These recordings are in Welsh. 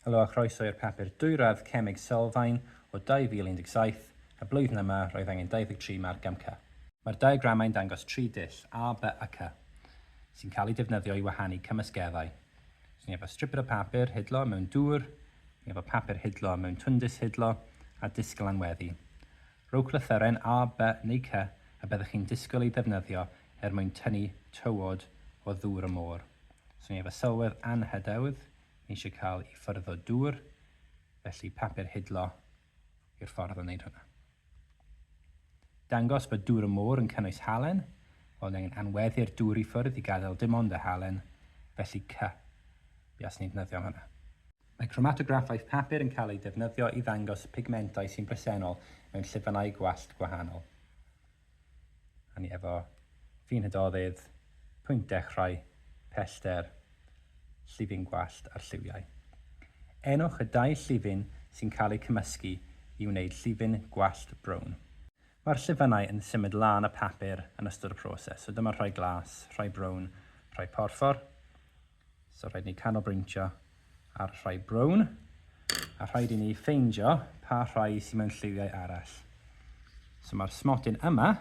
Helo a chroeso i'r papur dwyradd Cemeg Sylfaen o 2017, y blwyddyn yma roedd angen 23 marc am Cy. Mae'r diagramau'n dangos tri dull, A, B a Cy, sy'n cael eu defnyddio i wahanu cymysgeddau. So ni efo striped o papur hidlo mewn dŵr, ni efo papur hidlo mewn twndis hidlo, a disgl anweddu. Rhowch lythyren A, B neu Cy y byddwch chi'n disgwyl eu defnyddio er mwyn tynnu tywod o ddŵr y môr. So ni efo sylwedd anhydewdd, eisiau cael i ffyrdd o dŵr, felly papur hidlo yw'r ffordd o wneud hwnna. Dangos bod dŵr y môr yn cynnwys halen, wel ni angen anweddu'r dŵr i ffwrdd i gadael dim ond y halen, felly cy, bias ni'n defnyddio hwnna. Mae cromatograffaeth papur yn cael ei defnyddio i ddangos pigmentau sy'n bresennol mewn llifynnau gwallt gwahanol. Hynny efo ffin hydoedd, pwynt dechrau, pellter, llifin gwallt a'r lliwiau. Enwch y dau llifin sy'n cael eu cymysgu i wneud llifin gwallt brown. Mae'r llifynnau yn symud lân y papur yn ystod y proses, so dyma rhai glas, rhai brown, rhai porffor. So rhaid ni canolbwyntio ar y rhai brown, a rhaid i ni ffeindio pa rhai sy'n mewn lliwiau arall. So mae'r smotyn yma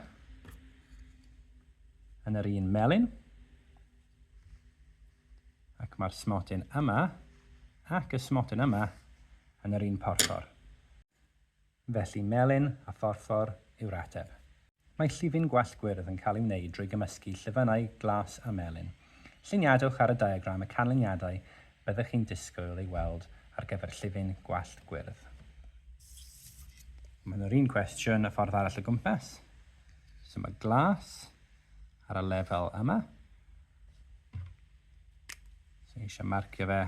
yn yr un melyn, ac mae'r smotyn yma ac y smotyn yma yn yr un porthor. Felly melyn a phorffor yw'r ateb. Mae llifyn gwallt gwyrdd yn cael ei wneud drwy gymysgu llifynnau glas a melyn. Lluniadwch ar y diagram y canlyniadau byddwch chi'n disgwyl ei weld ar gyfer llifyn gwallt gwyrdd. Maen nhw'r un cwestiwn y ffordd arall o gwmpas. So mae glas ar y lefel yma. So ni eisiau marcio fe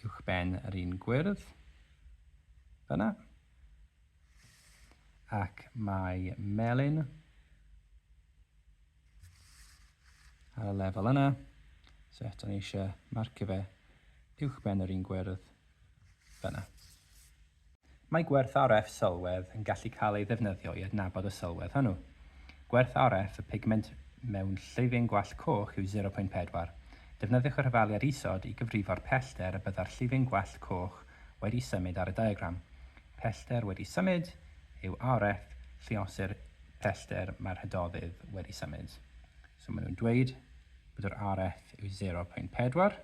uwchben yr un gwyrdd, fyna, ac mae melyn ar y lefel yna, so eto ni eisiau marcio fe uwchben yr un gwyrdd, fyna. Mae gwerth RF sylwedd yn gallu cael ei ddefnyddio i adnabod y sylwedd hwnnw. Gwerth RF y pigment mewn llifyn gwallt coch yw 0.4. Defnyddiwch y rhyfaliad isod i gyfrifo'r pellter y byddai'r llifyn gwallt coch wedi symud ar y diagram. Pellter wedi symud yw RF lluosir pellter mae'r hydoddyd wedi symud. So maen nhw'n dweud bod yr RF yw 0.4.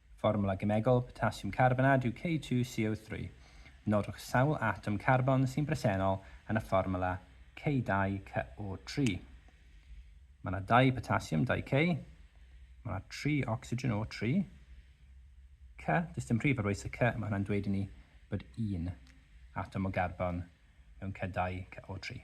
Fformwla gemegol potasiwm carbonad yw K2CO3. Nodwch sawl atom carbon sy'n bresennol yn y fformwla K2CO3. Mae yna dau potasiwm, 2K. Mae yna tri ocsigen, O3. K, does dim rhif ar waith y K, mae hwnna'n dweud i ni bod un atom o garbon mewn K2CO3.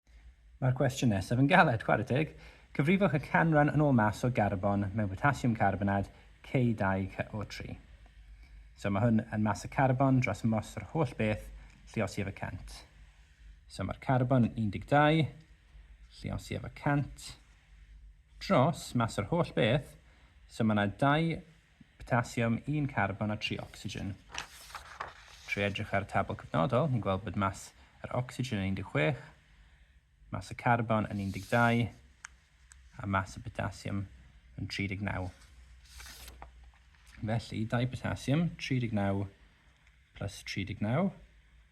Mae'r cwestiwn nesaf yn galed, chwarae teg! Cyfrifwch y canran yn ôl mass o garbon mewn potasiwm carbonad, K2CO3. So mae hwn yn mass y carbon dros moss yr holl beth, lliosi efo 100. So mae'r carbon yn 12, lliosi efo 100, dros mass yr holl beth, so mae yna 2 Potasiwm, un carbon a tri ocsigen. Trwy edrych ar y tabl cyfnodol, ni'n gweld bod mas yr ocsigen yn 16, mas y carbon yn 12, a mas y potasiwm yn 39. Felly, dau potasiwm, 39 plus 39,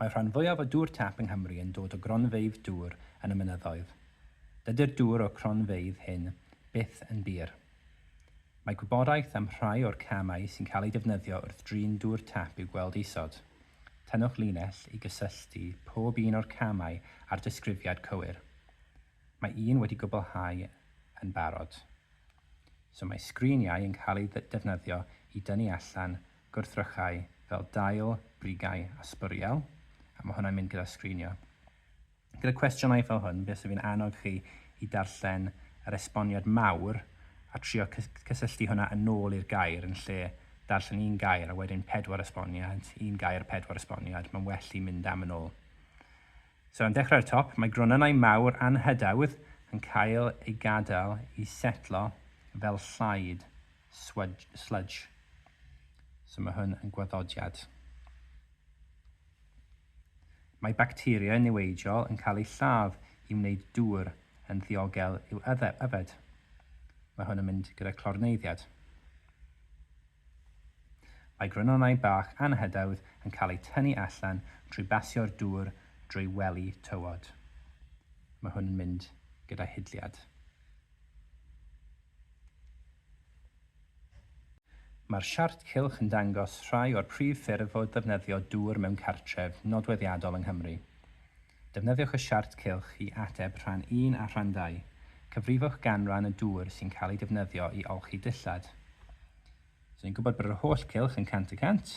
Mae'r rhan fwyaf o dŵr tap yng Nghymru yn dod o gronfeydd dŵr yn y mynyddoedd. Dydy'r dŵr o'r cronfeydd hyn byth yn bur. Mae gwybodaeth am rhai o'r camau sy'n cael eu defnyddio wrth drin dŵr tap i'w gweld isod. Tynnwch linell i gysylltu pob un o'r camau â'r disgrifiad cywir. Mae un wedi gwblhau yn barod. So mae sgriniau yn cael eu defnyddio i dynnu allan gwrthrychau fel dail, brigau a sbwriel, a mae hwnna'n mynd gyda sgrinio. Gyda cwestiynau fel hwn, fe fysaf fi'n annog chi i darllen yr esboniad mawr a trio cysylltu hwnna yn ôl i'r gair yn lle darllen un gair a wedyn pedwar esboniad, un gair pedwar esboniad, mae'n well i mynd am yn ôl. So, yn dechrau'r top, mae gronynnau mawr anhydawdd yn cael ei gadael i setlo fel llaid sludge. So mae hwn yn gwaddodiad. Mae bacteria niweidiol yn cael eu lladd i wneud dŵr yn ddiogel i'w yfed. Mae hwn yn mynd gyda clorneiddiad. Mae grynonau bach anhydawdd yn cael eu tynnu allan trwy basio'r dŵr drwy wely tywod. Mae hwn yn mynd gyda hidliad. Mae'r siart cylch yn dangos rhai o'r prif ffyrdd o ddefnyddio dŵr mewn cartref nodweddiadol yng Nghymru. Defnyddiwch y siart cylch i ateb rhan un a rhan ddau. Cyfrifwch ganran y dŵr sy'n cael ei defnyddio i olchi dillad. So ni'n gwybod bod yr holl gylch yn cant y cant.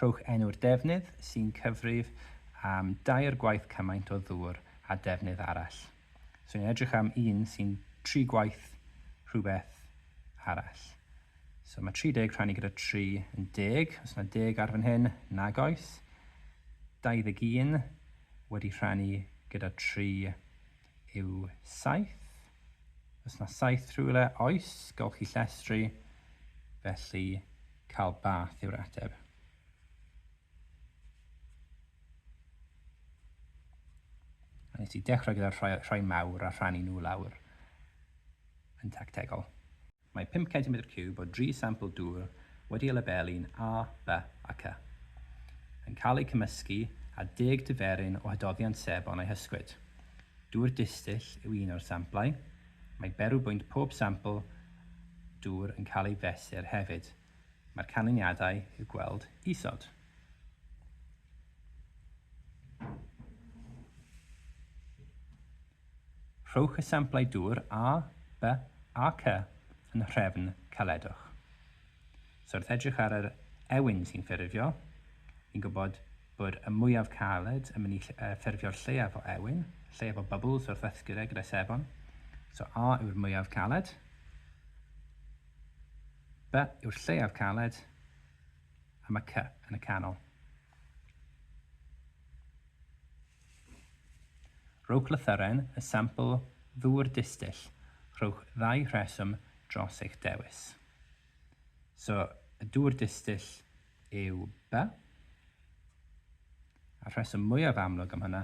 Rhowch enw'r defnydd sy'n cyfrif am dair gwaith cymaint o ddŵr â defnydd arall. So ni'n edrych am un sy'n tri gwaith rhywbeth arall. So mae 30 rhannu gyda 3 yn 10. Os yna 10 ar fan hyn, nag oes. 21 wedi rhannu gyda 3 yw saith. Os na saith rhywle, oes, gall chi llestri, felly cael bath yw'r ateb. A nes i dechrau gyda'r rhai, rhai mawr a rhannu nhw lawr yn tactegol. Mae pump centimetr ciwb o dri sampl dŵr wedi ei labelu'n A, B a C yn cael eu cymysgu â deg diferyn o hydoddiant sebon a'i hysgwyd. Dŵr distyll yw un o'r samplau. Mae berw bwynt pob sampl dŵr yn cael ei fesur hefyd. Mae'r canlyniadau i'w gweld isod. Rhowch esiamplau dŵr A, B a C yn nhrefn caledwch. So wrth edrych ar yr ewyn sy'n ffurfio, ni'n gwybod bod y mwyaf caled yn mynd i ffurfio'r lleiaf o ewyn, lleiaf o bubbles wrth ddysgu fe gyda sebon. So A yw'r mwyaf caled, B yw'r lleiaf caled, a mae C yn y canol. Rhowch lythyren, y sampl ddŵr distyll, rhowch ddau rheswm dros eich dewis. So, y dŵr distyll yw by. A'r rheswm mwyaf amlwg am hynna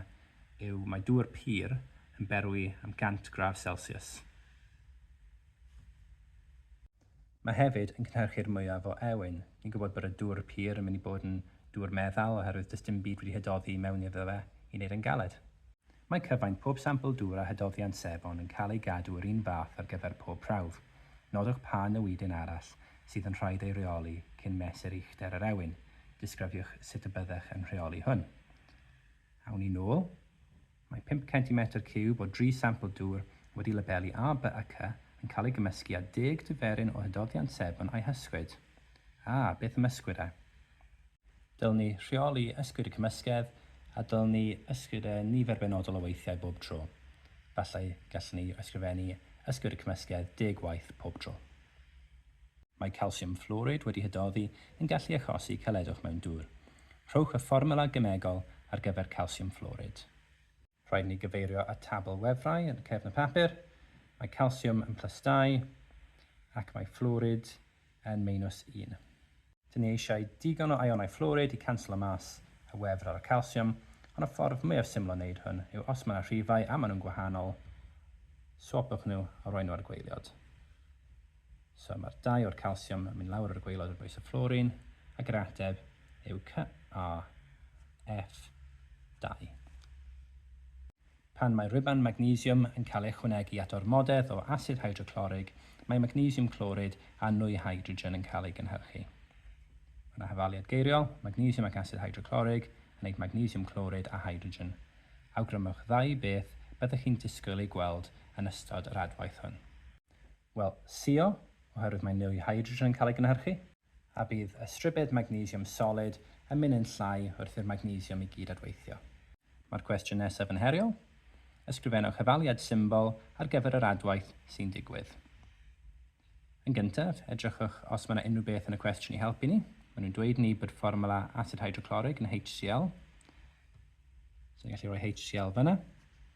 yw mae dŵr pur yn berwi am 100 gradd Celsius. Mae hefyd yn cynhyrchu'r mwyaf o ewyn. Ni'n gwybod bod y dŵr pur yn mynd i bod yn dŵr meddal oherwydd does dim byd wedi hydoddi i mewn iddo fe i wneud e'n galed. Mae cyfaint pob sampl dŵr a hydoddiant sebon yn cael ei gadw yr un fath ar gyfer pob prawf. Nodwch pa newidyn arall sydd yn rhaid ei reoli cyn mesur uchder yr ewyn. Disgrifiwch sut y byddech yn rheoli hwn. Awn ni nôl. Mae pump centimetr ciwb o dri sampl dŵr wedi labelu A, B a C yn cael ei gymysgu â deg diferyn o hydoddiant sebon a'i hysgwyd. A, beth am ysgwyd e? Dylwn ni rheoli ysgwyd y cymysgedd a dylwn ni ysgwyd e nifer benodol o weithiau bob tro. Efallai gallwn ni ysgrifennu ysgwyd y cymysgedd deg waith pob tro. Mae calsiwm fflwrid wedi hydoddi yn gallu achosi caledwch mewn dŵr. Rhowch y fformiwla gemegol ar gyfer calsiwm fflwrid. Rhaid ni gyfeirio at tabl wefrau yn y cefn y papur. Mae calsiwm yn plus dau ac mae fflwrid yn meinws un. Dyn ni eisiau digon o ionau fflwrid i canslo mas y wefr ar y calsiwm, ond y ffordd mwyaf syml o wneud hwn yw os mae yna rhifau a maen nhw'n gwahanol, swopwch nhw a rhoi nhw ar gweiliod. So mae'r dau o'r calsiwm yn mynd lawr ar y gwaelod ar bwys y fflorîn, ac yr ateb yw CaF2. Pan mae rhuban magnesiwm yn cael ei ychwanegu at ormodedd o asid hydroclorig, mae magnesiwm clorid a nwy hydrogen yn cael ei gynhyrchu. Mae yna hafaliad geiriol, magnesiwm ac asid hydroclorig yn wneud magnesiwm clorid a hydrogen. Awgrymwch ddau beth byddwch chi'n disgwyl eu gweld yn ystod yr adwaith hwn. Wel, CO, oherwydd mae mwy hydrogen yn cael ei gynhyrchu. A bydd ystribed magnesiwm solid yn mynd yn llai wrth i'r magnesiwm i gyd adweithio. Mae'r cwestiwn nesaf yn heriol. Ysgrifennwch hafaliad symbol ar gyfer yr adwaith sy'n digwydd. Yn gyntaf, edrychwch os mae yna unrhyw beth yn y cwestiwn i helpu ni. Maen nhw'n dweud ni bod fformwla asid hydroclorig yn HCl. So ni'n gallu rhoi HCl fyna.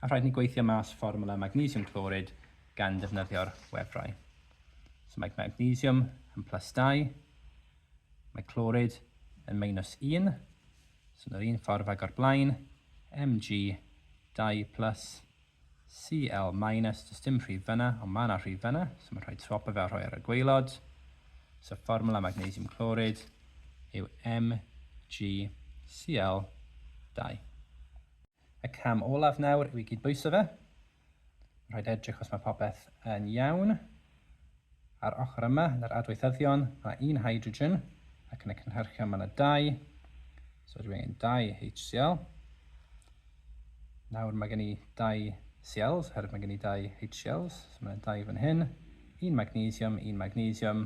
A rhaid ni gweithio mas fformwla magnesium clorid gan ddefnyddio'r wefrau. So mae magnesium yn plus 2, mae clorid yn minus 1, so yn yr un ffordd ag o'r blaen, Mg 2 plus CL minus, does dim rhif fyna, ond mae yna rhif fyna, so mae'n rhoi tropo fe a rhoi ar y gweilod. So fformula magnesium clorid yw MgCl2. Y cam olaf nawr yw i gyd bwyso fe. Rhaid edrych os mae popeth yn iawn. Ar ochr yma yn yr adweithyddion, mae 'na un hydrogen, ac yn y cynhyrchion mae 'na dau, so dwi angen dau HCl. Nawr mae gen i dau Cls, oherwydd mae gen i dau HCls, so mae 'na dau fan hyn, un magnesium, un magnesium,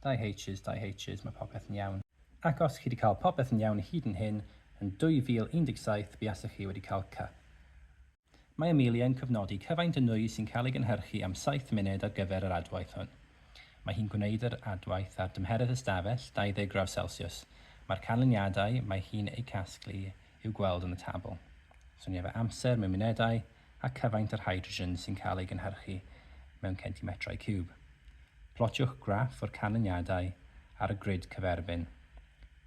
dau Hs, dau Hs, mae popeth yn iawn. Ac os chi wedi cael popeth yn iawn hyd yn hyn, yn 2017 buasech chi wedi cael C. Mae Amelia yn cofnodi cyfaint o nwy sy'n cael ei gynhyrchu am saith munud ar gyfer yr adwaith hwn. Mae hi'n gwneud yr adwaith ar dymheredd ystafell 20 graw selsiws. Mae'r canlyniadau mae hi'n eu casglu i'w gweld yn y tabl. Soniaf o amser mewn munedau a cyfaint yr hydrogen sy'n cael ei gynhyrchu mewn centimetrau ciwb. Plotiwch graff o'r canlyniadau ar y grid cyferfyn.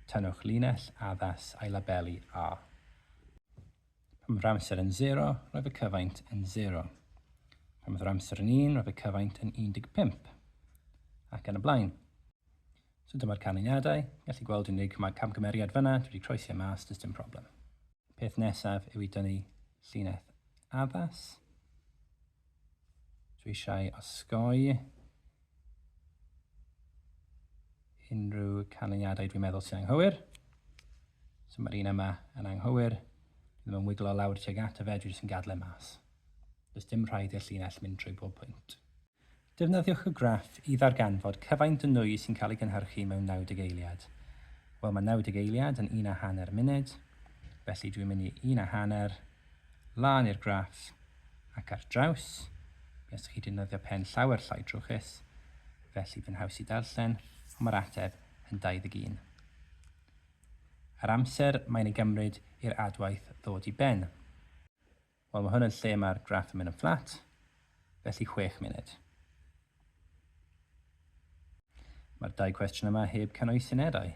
Tynnwch linell addas a'i labelu A. Pan mae'r amser yn sero, roedd y cyfaint yn sero. Pan oedd yr amser yn un, roedd y cyfaint yn 15. Ac yn y blaen. So dyma'r canlyniadau. Gallu gweld unig mae camgymeriad fyna, dwi wedi croesi e mas, does dim problem. Peth nesaf yw i dynnu llinell addas. Dwi eisiau osgoi unrhyw canlyniadau dwi'n meddwl sy'n anghywir. So mae'r un yma yn anghywir. Dwi'n ddim yn wiglo lawr tuag at y fe, dwi jyst yn gadle mas. Does dim rhaid i'r llinell mynd trwy bob pwynt. Defnyddiwch y graff i ddarganfod cyfaint o nwy sy'n cael ei gynhyrchu mewn 90 eiliad. Wel, mae 90 eiliad yn un a hanner munud, felly dwi'n mynd i un a hanner, lan i'r graff, ac ar draws. Mi os chi defnyddio pen llawer llai drwchus, felly fe'n haws i darllen, ond mae'r ateb yn 21. Yr amser mae'n ei gymryd i'r adwaith ddod i ben. Wel mae hwn yn lle mae'r graff yn mynd yn fflat, felly chwech munud. Mae'r dau cwestiwn yma heb cynnwys unedau,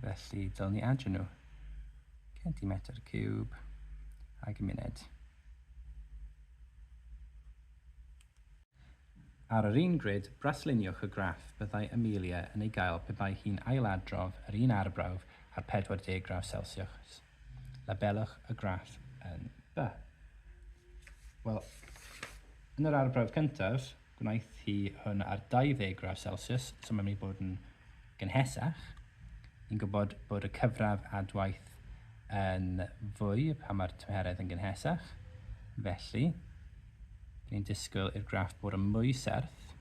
felly dylen ni adio nhw. Centimetr cwb ag munud. Ar yr un grid, brasluniwch y graff byddai Amelia yn ei gael pe bai hi'n ailadrodd yr un arbrawf ar 40 graw Celsius. Labelwch y graff yn B. Wel, yn yr arbrawf cyntaf, gwnaeth hi hwn ar 20 gradd Celsius, so mae'n mynd i bod yn gynhesach. Ni'n gwybod bod y cyfradd adwaith yn fwy pan mae'r tymheredd yn gynhesach. Felly, ni'n disgwyl i'r graff bod yn mwy serth,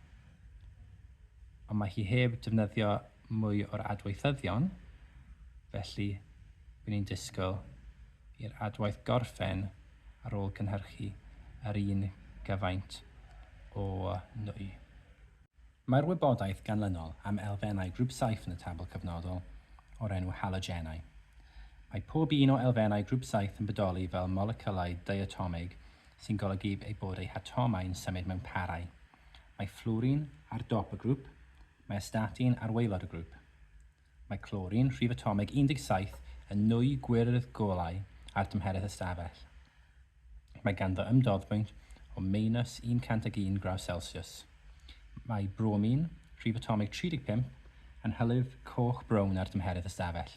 ond mae hi heb defnyddio mwy o'r adweithyddion, felly by ni'n disgwyl i'r adwaith gorffen ar ôl cynhyrchu yr un gyfaint o nwy. Mae'r wybodaeth ganlynol am elfennau grŵp saith yn y tabl cyfnodol o'r enw halogenau. Mae pob un o elfennau grŵp saith yn bodoli fel moleciwlau diatomig sy'n golygu eu bod eu hatomau'n symud mewn parau. Mae fflwrin ar dop y grŵp, Mae astatin ar waelod y grŵp. Mae clorin, rhif atomig 17, yn nwy gwyrdd golau ar dymheredd ystafell. Mae ganddo ymdoddbwynt o meinws 101 graw Celsius. Mae bromin, rhif atomig 35, yn hylif coch-brown ar dymheredd ystafell.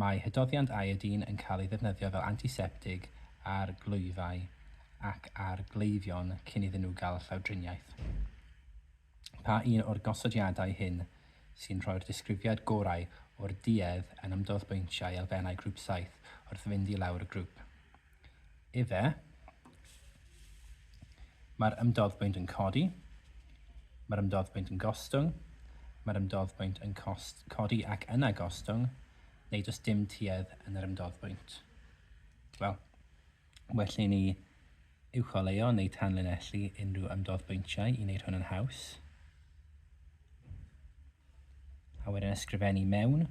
Mae hydoddiant iodine yn cael ei ddefnyddio fel antiseptig ar glwyfau ac ar gleifion cyn iddyn nhw gael llawdriniaeth. Pa un o'r gosodiadau hyn sy'n rhoi'r disgrifiad gorau o'r duedd yn ymdoddbwyntiau elfennau grŵp saith wrth fynd i lawr y grŵp? Efe, mae'r ymdoddbwynt yn codi, mae'r ymdoddbwynt yn gostwng, mae'r ymdoddbwynt yn cost, codi ac yna gostwng, neu does dim tuedd yn yr ymdoddbwynt. Wel, well i ni uwcholeuo neu tanlinellu unrhyw ymdoddbwyntiau i wneud hwn yn haws. A wedyn ysgrifennu mewn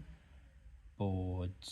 bod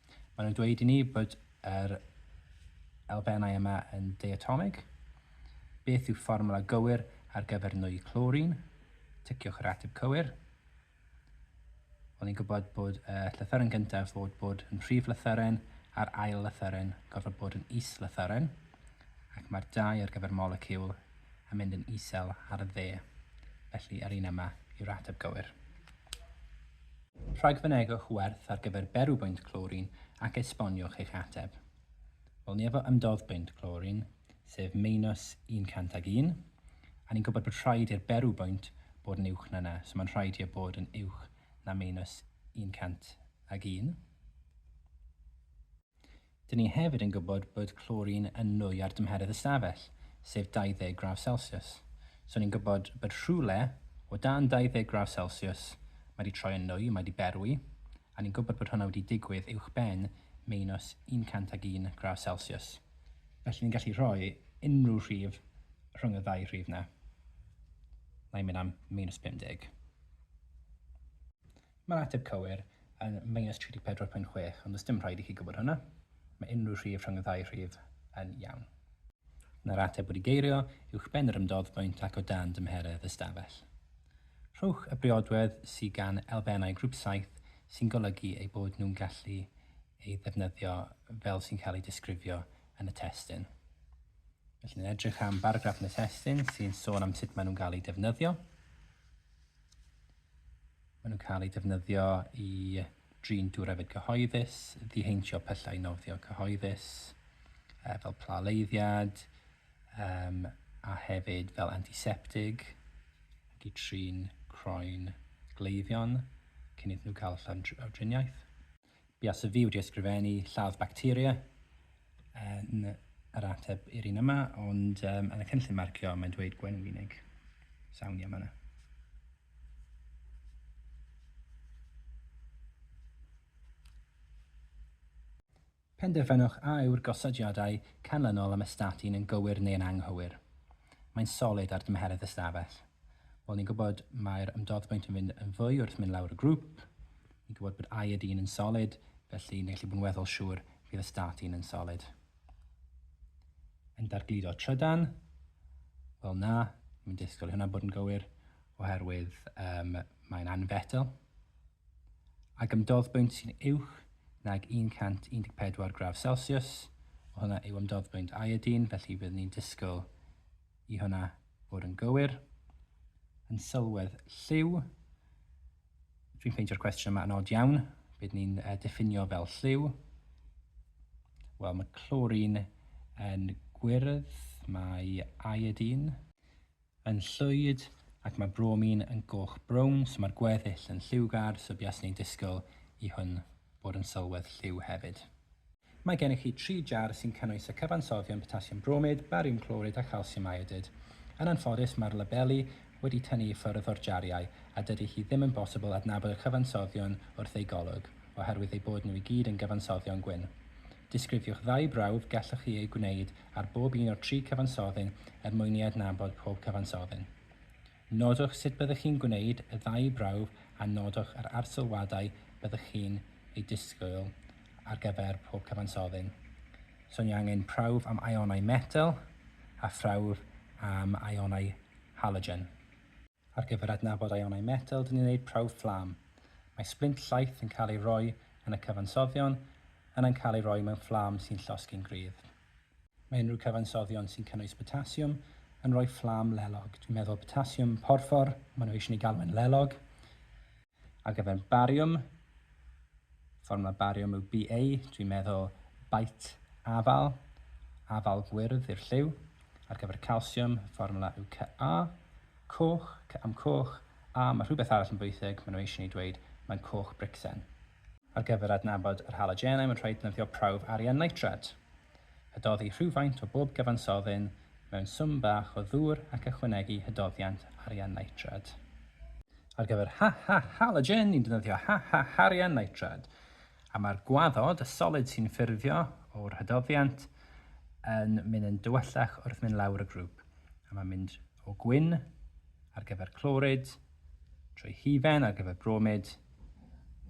Maen nhw'n dweud i ni bod yr elfennau yma yn diatomig. Beth yw fformwla gywir ar gyfer nwy clorin? Ticiwch yr ateb cywir. Wel, ni'n gwybod bod y llythyren gyntaf fod bod yn rhif lythyren a'r ail lythyren gorfod bod yn is lythyren, ac mae'r dau ar gyfer moleciwl yn mynd yn isel ar y dde. Felly, yr un yma yw'r ateb gywir. Rhagfynegwch werth ar gyfer berw bwynt clorin ac esboniwch eich ateb. Wel, ni efo ymdodd bwynt clorin, sef meinws 101, a ni'n gwybod bod rhaid i'r berw bwynt bod yn uwch na na, so mae'n rhaid i e bod yn uwch na meinws 101. Dyn ni hefyd yn gwybod bod clorin yn nwy ar dymheredd ystafell, sef 20 gradd celsius. So ni'n gwybod bod rhywle o dan 20 gradd celsius mae 'di troi yn nwy, mae 'di berwi, a ni'n gwybod bod hwnna wedi digwydd uwchben meinws 101 gradd celsius. Felly ni'n gallu rhoi unrhyw rhif rhwng y ddau rhif 'na. Mae'n mynd am meinws 50. Mae'r ateb cywir yn minus 34.6, ond does dim rhaid i chi gwybod hwnna. Mae unrhyw rhif rhwng y ddau rhif yn iawn. Mae'r ateb wedi geirio uwchben yr ymdoddbwynt ac o dan dymheredd y stafell. Rhowch y briodwedd sydd gan elfennau grŵp saith sy'n golygu eu bod nhw'n gallu ei ddefnyddio fel sy'n cael ei disgrifio yn y testun. Felly, ni'n edrych am baragraff yn y testun sy'n sôn am sut maen nhw'n cael eu defnyddio. Maen nhw'n cael eu defnyddio i drin diwrefyd cyhoeddus, ddiheintio pyllau nofio cyhoeddus, uh, fel plaleiddiad, um, a hefyd fel antiseptig, ac i trin croen gleifion cyn iddyn nhw cael llawdriniaeth. Buas y fi wedi ysgrifennu lladd bacteria yn yr ateb i'r un yma, ond um, yn y cynllun marcio mae'n dweud gwenwynig. Sawn i am yna. Penderfynwch a yw'r gosodiadau canlynol am ystatin yn gywir neu'n anghywir. Mae'n solid ar dymheredd ystafell. Wel, ni'n gwybod mae'r ymdoddbwynt yn fynd yn fwy wrth mynd lawr y grŵp, Ni'n gwybod bod iodine yn solid, felly ni'n gallu bod yn weddol siŵr bydd ystatîn yn solid. Yn dargludo trydan? Wel na, ni'n disgwyl i hwnna bod yn gywir oherwydd um, mae'n anfetel. Ac ymdodd bwynt sy'n uwch nag 114 graf Celsius, o hwnna yw ymdodd bwynt iodine, felly bydd ni'n disgwyl i hwnna bod yn gywir. Yn sylwedd lliw, Dwi'n ffeindio'r cwestiwn yma yn od iawn. Be dyn ni'n uh, diffinio fel lliw? Wel, mae clorin yn gwyrdd, mae iodin yn llwyd, ac mae bromin yn goch brown, so mae'r gweddill yn lliwgar, so bias ni'n disgwyl i hwn bod yn sylwedd lliw hefyd. Mae gennych chi tri jar sy'n cynnwys y cyfansoddion potasiwm bromid, bariwm clorid a chalsiwm iodid. Yn anffodus, mae'r labeli wedi tynnu i ffwrdd o'r jariau a dydy hi ddim yn bosibl adnabod y cyfansoddion wrth eu golwg, oherwydd eu bod nhw i gyd yn gyfansoddion gwyn. Disgrifiwch ddau brawf gellwch chi eu gwneud ar bob un o'r tri cyfansoddyn er mwyn i adnabod pob cyfansoddyn. Nodwch sut byddwch chi'n gwneud y ddau brawf a nodwch yr arsylwadau byddwch chi'n eu disgwyl ar gyfer pob cyfansoddyn. So ni angen prawf am ionau metel a phrawf am ionau halogen. Ar gyfer adnabod ionau metel dyn ni'n gwneud prawf fflam. Mae sblint llaeth yn cael ei roi yn y cyfansoddion yna'n cael ei roi mewn fflam sy'n llosgi'n gryf. Mae unrhyw cyfansoddion sy'n cynnwys botasiwm yn rhoi fflam lelog. Dwi'n meddwl botasiwm porffor, maen nhw eisiau ni galw yn lelog. Ar gyfer bariwm, fformwla bariwm yw BA, dwi'n meddwl bait afal, afal gwyrdd i'r lliw. Ar gyfer calsiwm, fformwla yw CA, coch, C am coch, a mae rhywbeth arall yn bwysig, maen nhw eisiau ni dweud mae'n coch bricsen. Ar gyfer adnabod yr halogenau mae'n rhaid defnyddio prawf arian nitrad. Hydoddi rhywfaint o bob cyfansoddyn mewn swm bach o ddŵr ac ychwanegu hydoddiant arian nitrad. Ar gyfer ha ha halogen ni'n defnyddio ha ha harian nitrad a mae'r gwaddod, y solid sy'n ffurfio o'r hydoddiant, yn mynd yn dywyllach wrth mynd lawr y grŵp a mae'n mynd o gwyn ar gyfer clorid, trwy hufen ar gyfer bromid,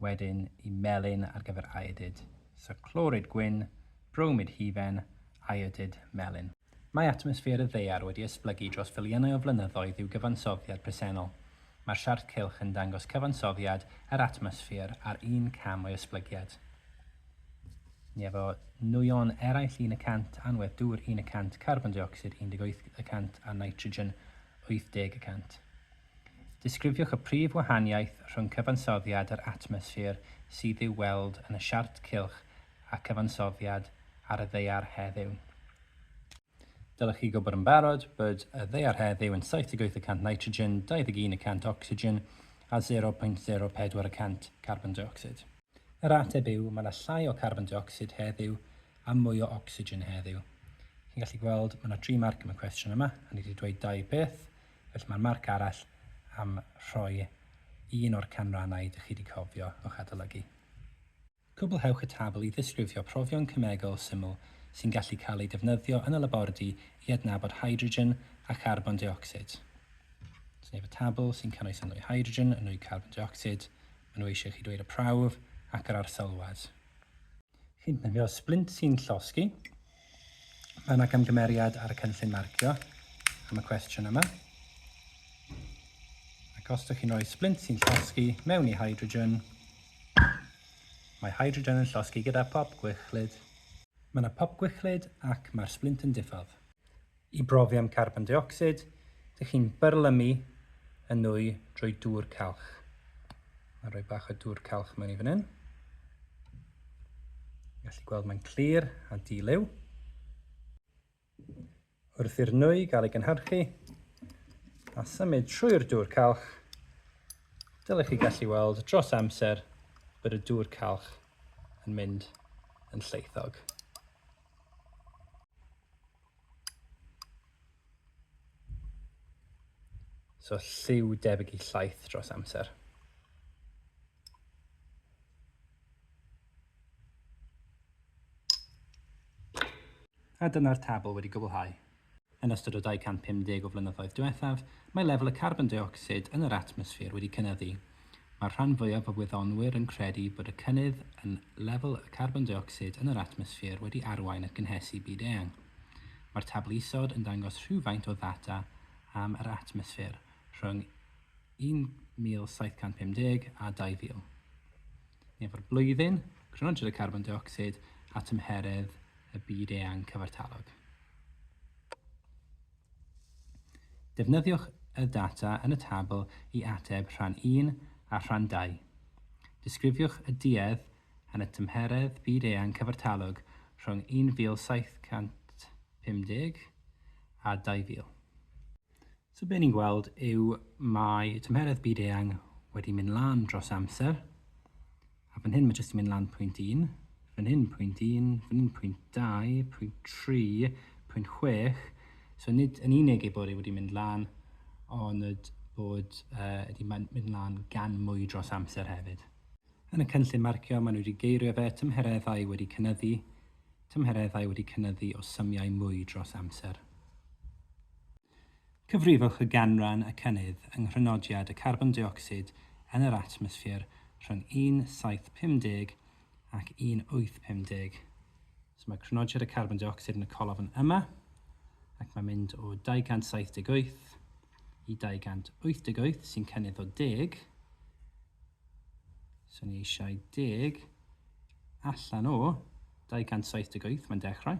wedyn i melyn ar gyfer aedyd, so clorid gwyn, bromid hufen, aedyd, melyn. Mae atmosffer y ddaear wedi esblygu dros filiynau o flynyddoedd i'w gyfansoddiad presennol. Mae'r siart cylch yn dangos cyfansoddiad yr atmosffer ar un cam o'i esblygiad. Ni efo nwyon eraill un y cant, anwedd dŵr un y cant, carbon deuocsid 18 y cant a nitrogen 80 y cant. Disgrifiwch y prif wahaniaeth rhwng cyfansoddiad yr atmosffer sydd i'w weld yn y siart cylch a cyfansoddiad ar y ddaear heddiw. Dylech chi gwybod yn barod bod y ddaear heddiw yn 78 y cant nitrogen, 21 y cant ocsigen a 0.04 y cant carbon deuocsid. Yr ateb yw, mae yna llai o carbon deuocsid heddiw a mwy o ocsigen heddiw. Chi'n gallu gweld, mae yna dri marc am y cwestiwn yma, a ni wedi dweud dau peth, Felly mae'n marc arall am rhoi un o'r canrannau dych chi wedi cofio o'ch adolygu. Cwblhewch y tabl i ddisgrifio profion cemegol syml sy'n gallu cael eu defnyddio yn y labordy i adnabod hydrogen a charbon deuocsid. Sef y tabl sy'n cynnwys y nwy hydrogen, y nwy carbon deuocsid, maen nhw eisiau chi ddweud y prawf ac yr arsyllwad. Chi'n defnyddio splint sy'n llosgi. Mae yna gamgymeriad ar y cynllun marcio am y cwestiwn yma. Ac os ydych chi'n rhoi splint sy'n llosgi mewn i hydrogen, mae hydrogen yn llosgi gyda pop gwichlyd. Mae yna pop gwichlyd ac mae'r splint yn diffodd. I brofi am carbon deuocsid, dych chi'n byrlymu y nwy drwy dŵr calch. Mae'n rhoi bach o dŵr calch mewn i fan hyn. Gallu gweld mae'n clir a di-liw. Wrth i'r nwy gael ei gynhyrchu a symud trwy'r dŵr calch, dylech chi gallu weld dros amser bod y dŵr calch yn mynd yn lleithog. So lliw debyg i llaeth dros amser. A dyna'r tabl wedi gwblhau. Yn ystod y 250 o flynyddoedd diwethaf, mae lefel y carbon deuocsid yn yr atmosffer wedi cynyddu, Mae'r rhan fwyaf o wyddonwyr yn credu bod y cynnydd yn lefel y carbon deuocsid yn yr atmosffer wedi arwain at gynhesu byd-eang. Mae'r tabl isod yn dangos rhywfaint o ddata am yr atmosffer rhwng 1750 a 2000, neu efo'r blwyddyn crontrwydd y carbon deuocsid a tymheredd y byd-eang cyfartalog. Defnyddiwch y data yn y tabl i ateb rhan un a rhan dau. Disgrifiwch y duedd yn y tymheredd byd-eang cyfartalog rhwng 1750 a 2000. So be ni'n gweld yw mae tymheredd byd-eang wedi mynd lan dros amser, A fan hyn mae jyst yn mynd lan pwynt 1, fan hyn pwynt 1, fan hyn pwynt 2, pwynt 3, pwynt 6. So nid yn unig ei bod e wedi mynd lan, ond bod uh, wedi mynd lan gan mwy dros amser hefyd. Yn y cynllun marcio, maen nhw wedi geirio fe tymhereddau wedi cynnyddu, tymhereddau wedi cynnyddu o symiau mwy dros amser. Cyfrifwch y ganran y cynnydd yng nghrynodiad y carbon deuocsid yn yr atmosffer rhwng 1750 ac 1850. So mae crynodiad y carbon deuocsid yn y colofn yma, ac mae'n mynd o 278 i 288, sy'n cynnydd o 10. So ni eisiau 10 allan o 278, mae'n dechrau.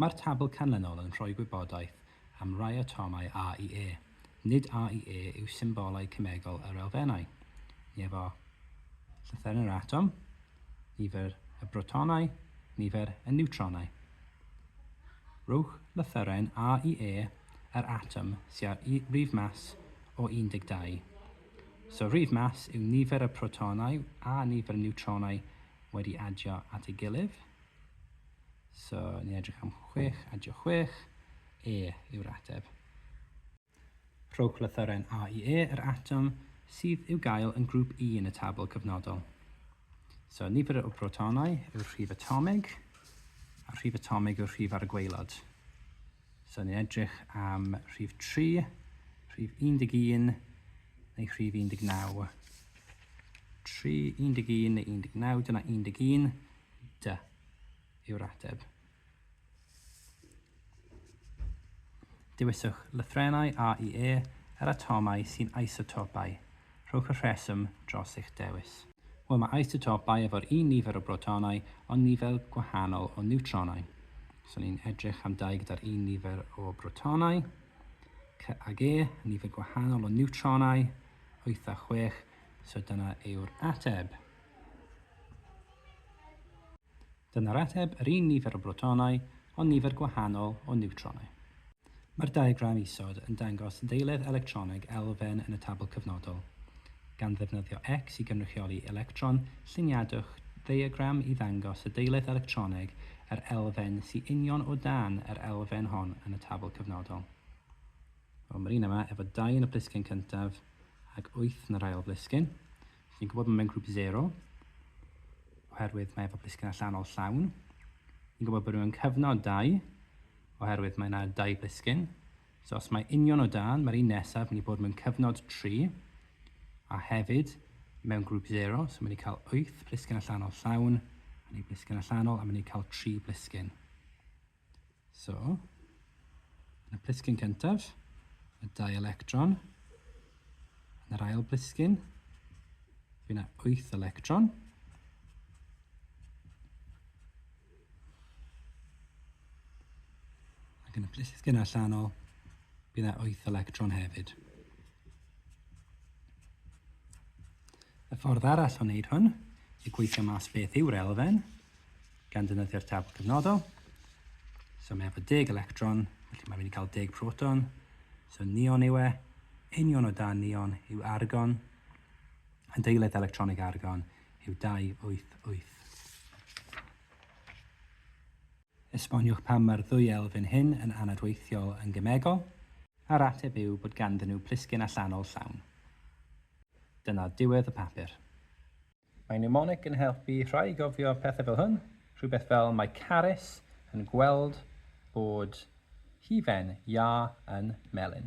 Mae'r tabl canlynol yn rhoi gwybodaeth am rai atomau A i E. Nid A i E yw symbolau cemegol yr elfennau, ni efo llythyren yr atom, nifer y brotonau, nifer y niwtronau. Rhowch lythyren A i E yr atom sy â'r rif mas o 12. So rif mas yw nifer y protonau a nifer y niwtronau wedi adio at ei gilydd. So, ni'n edrych am 6, adio 6, E yw'r ateb. Rhowch lythyren A i E, yr atom sydd i'w gael yn grŵp I yn y tabl cyfnodol. So, nifer o brotonau yw'r rhif atomig, a rhif atomig yw'r rhif ar y gweilod. So, ni'n edrych am rhif 3, rhif 11, neu rhif 19. 3, 11 neu 19, dyna 11, dy. yw'r ateb. Dewiswch lythrennau A i E yr atomau sy'n isotopau. Rhowch y rheswm dros eich dewis. Wel, mae isotopau efo'r un nifer o brotonau ond nifer gwahanol o niwtronau. So ni'n edrych am dau gyda'r un nifer o brotonau, C ag E, nifer gwahanol o niwtronau, 8 a 6, so dyna yw'r ateb. Dyna'r ateb, yr un nifer o brotonau, ond nifer gwahanol o niwtronau. Mae'r diagram isod yn dangos ddeiledd electroneg elfen yn y tabl cyfnodol. Gan ddefnyddio X i gynrychioli electron, lluniadwch ddiagram i ddangos y deiledd electroneg yr elfen sy union o dan yr elfen hon yn y tabl cyfnodol. Wel, mae'r un yma efo dau yn y plisgyn cyntaf ac wyth yn yr ail blisgyn. Ni'n gwybod bod mewn grŵp zero, oherwydd mae efo blisgyn allanol llawn. Ni'n gwybod bod mewn cyfnod dau, oherwydd mae yna dau blisgyn. So os mae union o dan, mae'r un nesaf mynd i bod mewn cyfnod 3, a hefyd mewn grŵp zero, so mynd i cael 8 blisgyn allanol llawn, a ni blisgyn allanol, a mynd i cael 3 blisgyn. So, yn y plisgyn cyntaf, y dau electron. Yn yr ail blisgyn, fi na 8 electron. Ac yn y plisgyn allanol, bydd yna 8 electron hefyd. Y ffordd arall o wneud hwn yw gweithio mas beth yw'r elfen, gan ddefnyddio'r tabl cyfnodol. So mae efo deg electron, felly mae'n mynd i gael deg proton. So neon yw e. Union o dan neon yw argon. Yn deiledd electronig argon yw 288. Esboniwch pam mae'r ddwy elfen hyn yn anadweithiol yn gemegol. A'r ateb yw bod ganddyn nhw plisgyn allanol llawn. Dyna diwedd y papur. Mae mnemonig yn helpu rhai i gofio pethau fel hwn, rhywbeth fel mae Carys yn gweld bod hufen iâ yn melyn.